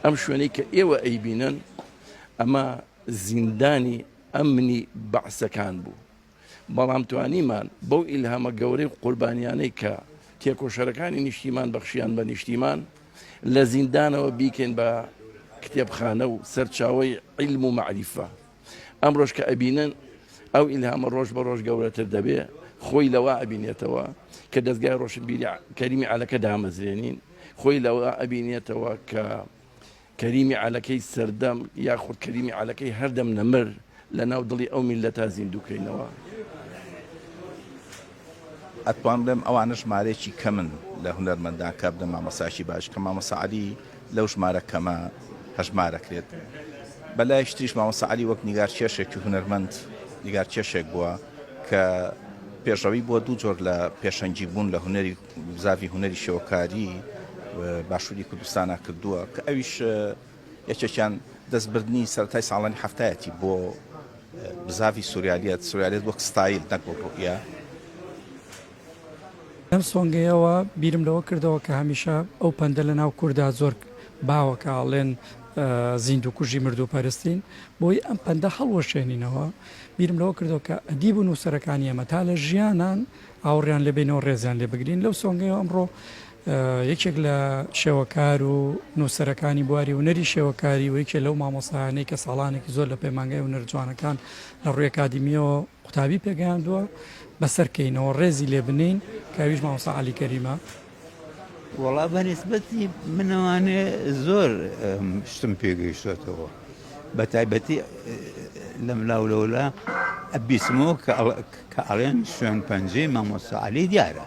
ئەم شوێنەی کە ئێوە ئەیبینن ئەمە زیندانی ئەمنی بەعسەکان بوو بەڵام توانیمان بەو ئیلهامە گەورەی قوربانیانەی کە تێکۆشەرەکانی نیشتیمان بەخشیان بە نیشتیمان لە زیندانەوە بیکەین بە کتێبخانە و سەرچاوی علم و معریفە ئەمڕۆش کە ئەبینن ئەو ئیلهامە ڕۆژ بە ڕۆژ گەورەتر دەبێ خۆی لەوە ئەبینێتەوە کە دەستگای ڕۆشنبیری کەریمی عەلەکە دامەزرێنین خۆی لەوە ئەبینێتەوە کە کەریمی عەلەکەی سەردەم یاخود کەریمی عەلەکەی هەردەم نەمر لە ناو دڵی ئەو میلەتا زیندووکەینەوە. ئەتوان بڵێم ئەوانە ژمارەیەکی کەمن لە هونەرمەندان کار بدەن مامۆستایەکی باش کە مامۆستا عەلی لەو ژمارە کەمە هەژمارەکرێت بەلایش تریش مامۆستا عەلی وەک نیگار کێشێکی هونەرمەند نیگار کێشێک بووە کە پێشەوەی بووە دوو جۆر لە پێشەنگی بوون لە هونەری زاوی هونەری شێوەکاری باشووری کوردستانە کردووە کە ئەویش یەکێکیان دەستبردنی سەرەتای ساڵانی حەفتایەتی بۆ بزاڤی سوریالییەت، سوریالییەت وەک ستایل نەک وەک ڕوئیە. لەم سۆنگەیەوە بیرم لەوە کردەوە کە هەمیشە ئەو پەندە لە ناو کوردا زۆر باوە کە ئەڵێن زیندووکوژی مردووپەرستین، بۆی ئەم پەندە هەڵوەشێنینەوە، بیرم لەوە کردەوە کە ئەدیب و نووسەرەکانی ئێمە تا لە ژیانان ئاوڕیان لێ بینەوە ڕێزیان لێ بگرین، لەو سۆنگەیەوە ئەمڕۆ یەکێک لە شێوەکار و نووسەرەکانی بواری هونەری شێوەکاری و یەکێ لەو مامۆستایانەی کە ساڵانێکی زۆر لە پەیمانگای هونەر جوانەکان لە ڕووی ئەکادیمیەوە قوتابی پێگەیاندووە بەسەر کەینەوە ڕێزی لێ بنین کاویش مامۆستا عەلی کەریمە وەڵا بە نسبەتی منەوانێ زۆر شتم پێگەیشتێتەوە بە تایبەتی لەم لاولەولا ئەبیسمەوە کە ئەڵێن شوێن پەنجەی مامۆستا عەلی دیارە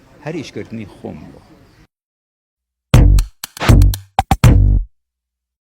هەر ئیش کردنی خۆم بووە.